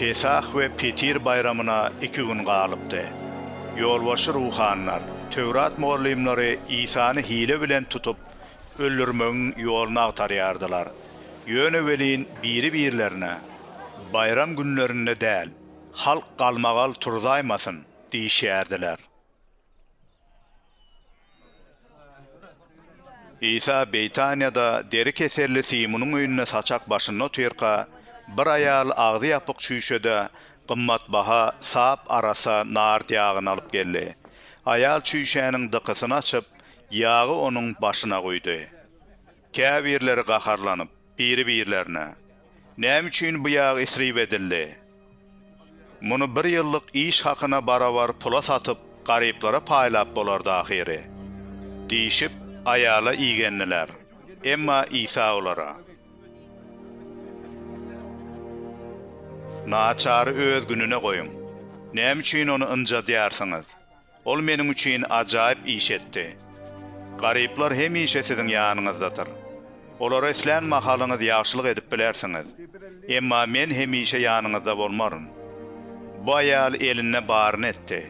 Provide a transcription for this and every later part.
Pesah we Petir baýramyna iki gün galypdy. Ýolbaşçy ruhanylar, Töwrat mugallymlary Isany hile bilen tutup, öldürmegiň ýoluny agtarýardylar. Ýöne welin biri-birlerine, Baýram günlerinde däl, halk galmagal turzaýmasyn! diýişýärdiler. Isa Beýtaniýada deri keselli Simunyň öýünde saçak başynda otyrka, bir aýal agzy ýapyk çüýşede gymmatbaha sap arassa nard ýagyny alyp geldi. Aýal çüýşäniň dykysyny açyp, ýagy onuň başyna guýdy. Käbirleri gaharlanyp, biri-birlerine, Näme üçin bu ýag isrip edildi? Muny bir ýyllyk iş hakyna barabar pula satyp, garyplara paýlap bolardy ahyry. Diýşip, aýala igendiler. Emma Isa olara. Naçary öz gününe goýuň. Näme üçin ony ynjadýarsyňyz? Ol meniň üçin ajaýyp iş etdi. Garyplar hemişe siziň ýanyňyzdadyr. Olara islän mahalyňyz ýagşylyk edip bilersiňiz. Emma men hemişe ýanyňyzda bolmaryn. Bu aýal elinde baryny etdi.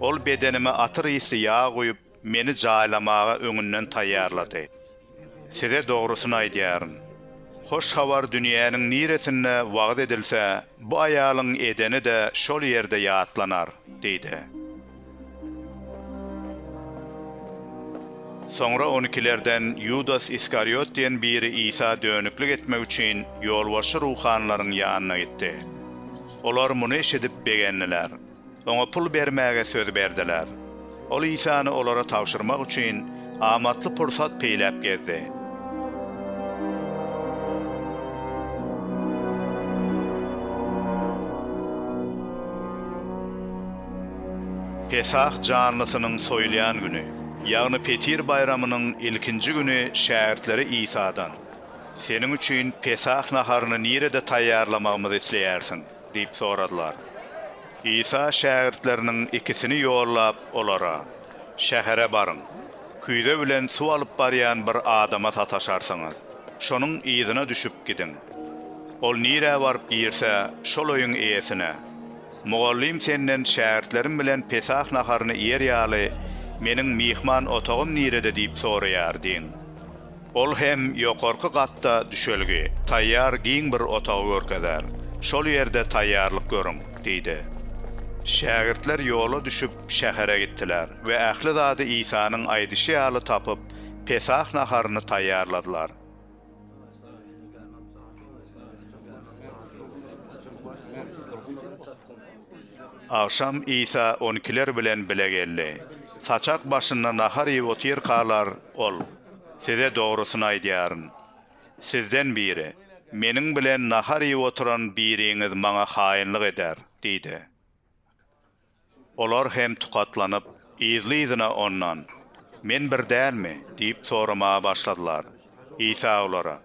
Ol bedenime atyr ysly ýag guýup, meni jaýlamaga öňünden taýýarlady. Size dogrusyny aýdýaryn, Hoş Habar dünýäniň niresinde wagyz edilse, bu aýalyň edeni-de şol ýerde ýatlanar diýdi. Soňra on ikilerden Ýudas Iskariot diýen biri Isa dönüklik etmek üçin ýolbaşçy ruhanylaryň ýanyna gitdi. Olar muny eşidip begendiler. Oňa pul bermäge söz berdiler. Ol Isany olara tabşyrmak üçin amatly pursat peýläp gezdi. Pesah janlysynyň soýulýan güni, ýagny Petir baýramynyň ilkinji güni şägirtleri Isadan, Seniň üçin Pesah naharyny nirede taýýarlamagymyzy isleýärsiň? Diýip soradylar. Isa şägirtleriniň ikisini ýollap, olara, Şähere baryň. Küýze bilen suw alyp barýan bir adama sataşarsyňyz. Şonuň yzyna düşüp gidiň. Ol nirä baryp girse, şol öýüň eýesine, Mugallym senden şägirtlerim bilen Pesah naharyny iýer ýaly, meniň myhman otagym nirede diýip soraýar diýiň. Ol hem ýokarky gatda düşelgi, taýýar giň bir otagy görkezer. Şol ýerde taýýarlyk görüň, diýdi. Şägirtler ýola düşüp, şähere gitdiler we ähli zady Isanyň aýdyşy ýaly tapyp, Pesah naharyny taýýarladylar. Agşam Isa on ikiler bilen bile geldi. Saçak başynda nahar iýip otyrkalar, ol. Size dogrusyny aýdýaryn, sizden biri, Meniň bilen nahar iýip oturan biriňiz maňa haýynlyk eder diýdi. Olar hem tukatlanyp, yzly-yzyna Ondan, Men bir dälmi? diýip soramaga başladylar. Isa olara,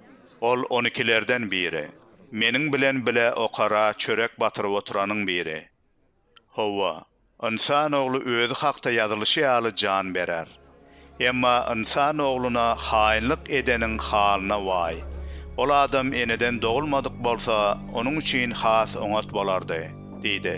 Ol on ikilerden biri, Meniň bilen bile okara çörek batyryp oturanyň biri. Hawa, ynsan ogly özi hakda ýazylyşy ýaly jan berer. Emma ynsan ogluna haýynlyk edeniň halyna waý! Ol adam eneden dogulmadyk bolsa, onuň üçin has oňat bolardy, diýdi.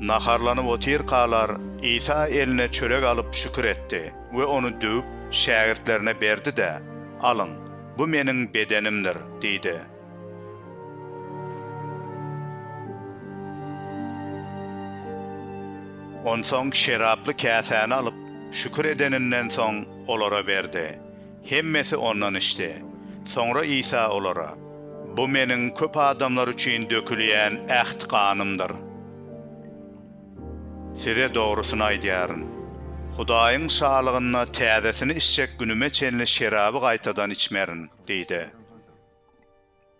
Naharlanyp otyrkalar, Isa eline çörek alyp şükür etdi we ony düwüp, şägirtlerine berdi-de, Alyň, bu Meniň bedenimdir diýdi. Onsoň şeraply käsäni alyp, şükür edeninden soň, olara berdi. Hemmesi ondan içdi. Soňra Isa olara, Bu Meniň köp adamlar üçin dökülýän äht ganymdyr. Size dogrusyny aýdýaryn, Hudaýyň Şalygynda täzesini içjek günüme çenli şeraby gaýtadan içmerin diýdi.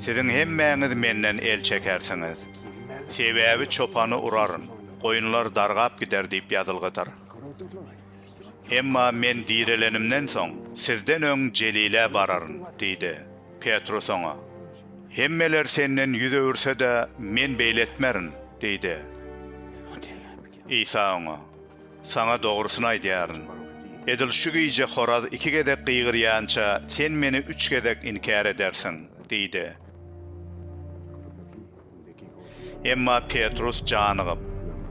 Siziň hemmäňiz menden el çekersiňiz. Sebäbi çopany uraryn, goýunlar dargap gider diýip ýazylgydyr. Emma men direlenimden soň, sizden öň Jelile bararyn diýdi. Petrus oňa, Hemmeler senden ýüz öwürse-de, men beýle etmerin diýdi. Isa oňa, Saňa dogrusyny aýdýaryn, edil şu gije horaz iki gezek gygyrýança, sen meni üç gezek inkär edersiň diýdi. Emma Petrus janygyp,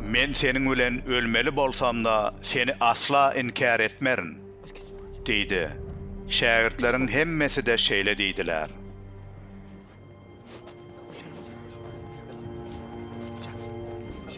Men seniň bilen ölmeli bolsam-da, seni asla inkär etmerin! diýdi. Şägirtleriň hemmesi-de şeýle diýdiler.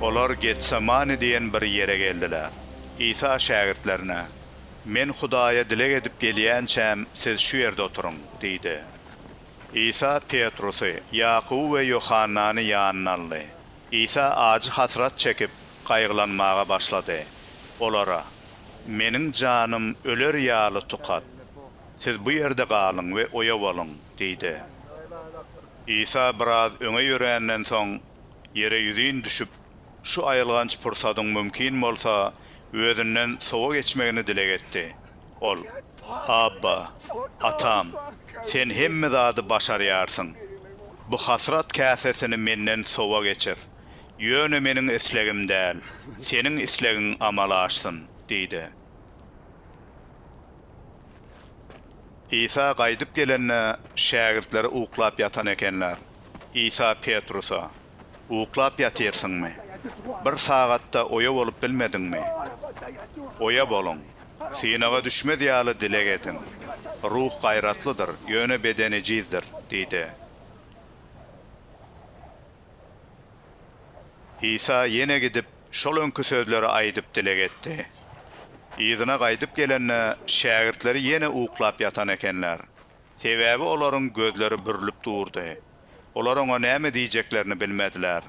Olar Getsemane diýen bir ýere geldiler. Isa şägirtlerine, Men Hudaýa dileg edip gelýänçäm, siz şu ýerde oturyň diýdi. Isa Petrusy, Ýakuby we Ýohannany ýanyna aldy. Isa ajy hasrat çekip, gaýgylanmaga başlady. Olara, Meniň janym öler ýaly tukat. Siz bu ýerde galyň we oýa boluň diýdi. Isa biraz öňe ýöränden soň, Ýere ýüzin düşüp, şu aýylganç pursadyň mümkin bolsa, özünden sowa geçmegini dileg etdi. Ol, Abba, Atam, Sen hemme zady başarýarsyň. Bu hasrat käsesini menden sowa geçir. Ýöne meniň islegim däl, Seniň islegiň amala aşsyn! diýdi. Isa gaýdyp gelende, şägirtleri uklap ýatan ekenler. Isa Petrusa, Uklap ýatyrsyňmy? Bir sagat-da oýa bolup bilmediňmi? Oýa boluň. Synaga düşmez ýaly dileg ediň. Ruh gaýratlydyr, ýöne beden ejizdir diýdi. Isa ýene gidip, şol öňki sözleri aýdyp dileg etdi. Yzyna gaýdyp gelende, şägirtleri ýene uklap ýatan ekenler. Sebäbi olaryň gözleri bürlüp durdy. Olar oňa näme diýjeklerini bilmediler.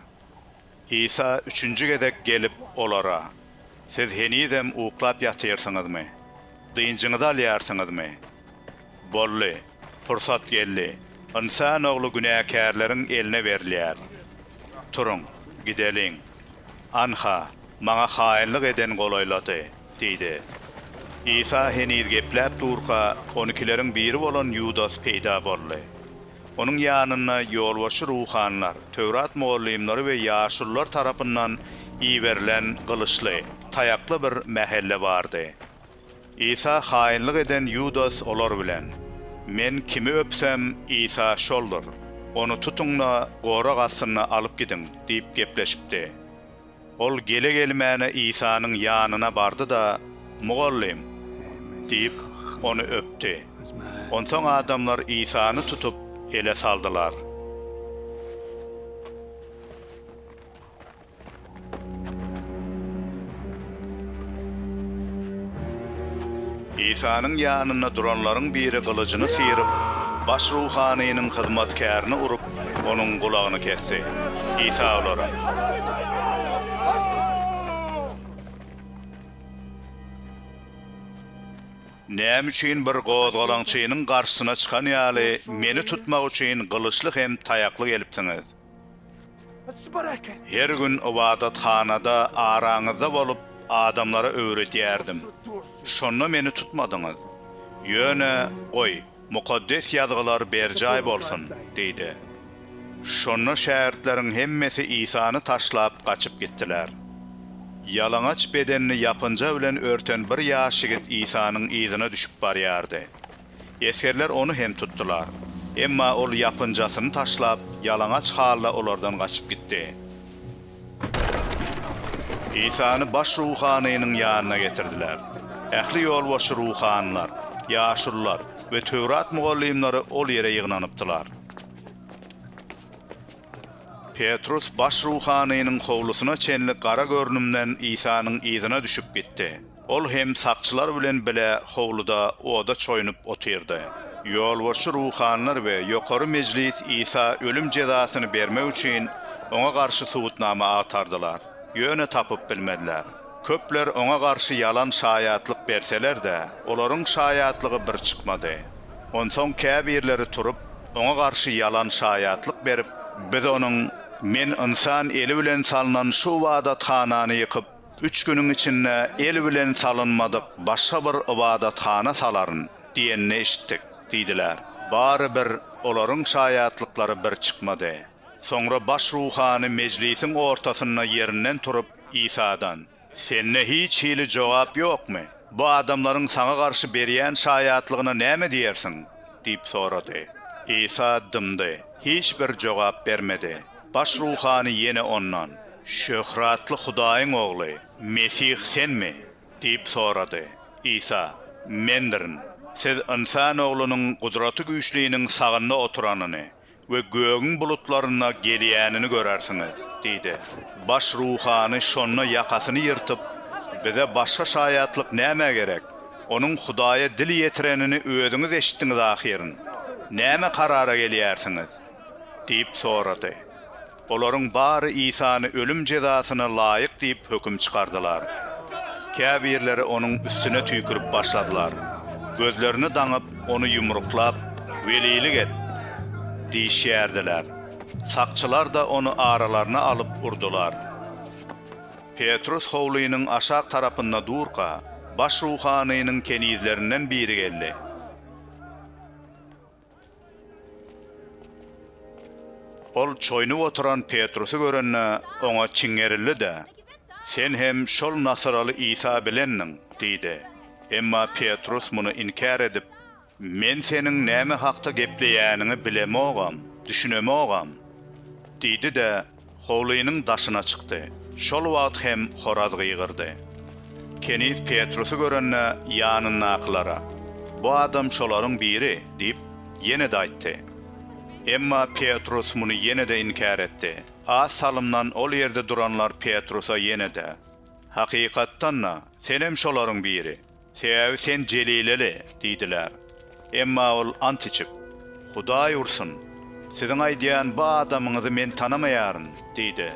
Isa üçünji gezek gelip, olara, Siz henizem uklap ýatyrsyňyzmy? Dynjyňyzy alýarsyňyzmy? Boldy! Pursat geldi. Ynsan ogly günäkärleriň eline berilýär. Turuň, gideliň. Anha, maňa haýynlyk eden golaýlady, diýdi. Isa heniz gepläp durka, onikileriň biri bolan Ýudas peýda boldy. Onuň ýanynda ýolbaşçy ruhanylar, Töwrat mugallymlary we ýaşulular tarapyndan iberilen gylyçly, taýakly bir mähelle bardy. Isa haýynlyk eden Ýudas olar bilen. Men kimi öpsem, Isa şoldur. Ony tutuň-da, gorag astynda alyp gidiň! diýip gepleşipdi. Ol gele-gelmäne Isanyň ýanyna bardy-da, Mugallym! diýip, ony öpdi. Onsoň adamlar Isany tutup, ele saldylar. Isanyň ýanynda duranlaryň biri gylyjyny syryp, baş ruhanynyň hyzmatkärini urup, onuň gulagyny kesdi. Isa olara. Näme üçin bir gozgalaňçynyň garşysyna çykan ýaly, meni tutmak üçin gylyçly hem taýakly gelipsiňiz? Her gün ybadathanada araňyzda bolup, adamlara öwredýärdim. Şonda meni tutmadyňyz. Ýöne, goý, Mukaddes Ýazgylar berjaý bolsun! diýdi. Şonda şägirtleriň hemmesi Isany taşlap, gaçyp gitdiler. Ýalaňaç bedenini ýapynja bilen örten bir ýaş ýigit Isanyň yzyna düşüp barýardy. Esgerler ony hem tutdular. Emma ol ýapynjasyny taşlap, ýalaňaç halda olardan gaçyp gitdi. Isany baş ruhanynyň ýanyna getirdiler. Ähli ýolbaşçy ruhanylar, ýaşulular we Töwrat mugallymlary ol ýere ýygnanypdylar. Petrus baş ruhanynyň howlusyna çenli gara görnümden Isanyň yzyna düşüp gitdi. Ol hem sakçylar bilen bile howluda oda çoýunyp otyrdy. Ýolbaşçy ruhanylar we Ýokary Mejlis Isa ölüm jezasyny bermek üçin oňa garşy subutnama agtardylar, ýöne tapyp bilmediler. Köpler oňa garşy ýalan şaýatlyk berseler-de, olaryň şaýatlygy bir çykmady. Onsoň käbirleri turup, oňa garşy ýalan şaýatlyk berip, Biz onuň, Men ynsan eli bilen salnan şu ybadathanany ýykyp, Üç günüň içinde el bilen salynmadyk başga bir ybadathana salaryn diýenini eşitdik, diýdiler. Bary bir olaryň şaýatlyklary bir çykmady. Soňra baş ruhany mejlisiň ortasynda ýerinden turup, Isadan, Sende hiç hili jogap ýokmy? Bu adamlaryň saňa garşy berýän şaýatlygyna näme diýersiň? diýip sorady. Isa dymdy, hiç bir jogap bermedi. Baş ruhany ýene ondan, Şöhratly Hudaýyň Ogly, Mesih Senmi? diýip sorady. Isa, Mendirin. Siz Ynsan Oglunyň Gudraty Güýçliniň sagynda oturanyny we gögüň bulutlarynda gelýänini görersiňiz diýdi. Baş ruhany şonda ýakasyny ýyrtyp, Bize başga şaýatlyk nämä gerek? Onuň Hudaýa dil ýetirenini özüňiz eşitdiňiz ahyryn. Näme karara gelýärsiňiz? diýip sorady. Olaryň bary Isany ölüm jezasyna laýyk diýip höküm çykardylar. Käbirleri onuň üstüne tüýkürip başladylar. Gözlerini daňyp, ony ýumruklap, Welilik et! diýişýärdiler. Sakçylar-da ony aralaryna alyp urdular. Petrus howlynyň aşak tarapynda durka, baş ruhanynyň kenizlerinden biri geldi. Ol çoýunyp oturan Petrusy görende, oňa çiňerildi-de, Sen hem şol nasyraly Isa bilendiň! diýdi. Emma Petrus muny inkär edip, Men seniň näme hakda gepleýäniňi bilemogam, düşünemogam! diýdi-de, Howlynyň daşyna çykdy. Şol wagt hem horaz gygyrdy. Keniz Petrusy görende, ýanyndakylara, Bu adam şolaryň biri diýip, ýene-de aýtdy. Emma Petrus muny ýene-de inkär etdi. Az salymdan ol ýerde duranlar Petrusa ýene-de, Hakykatdan-da, senem şolaryň biri! Sebäbi sen jelileli, diýdiler. Emma ol ant içip, Hudaý ursun, siziň aýdýan bu adamyňyzy men tanamaýaryn, diýdi.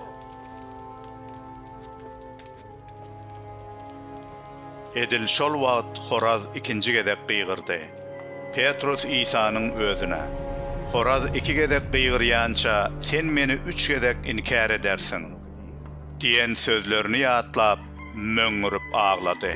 Edil şol wagt horaz ikinji gezek gygyrdy. Petrus Isanyň özüne, Horaz iki gezek gygyrýança, sen meni üç gezek inkär edersiň. Diýen sözlerini ýatlap, möňňürip aglady.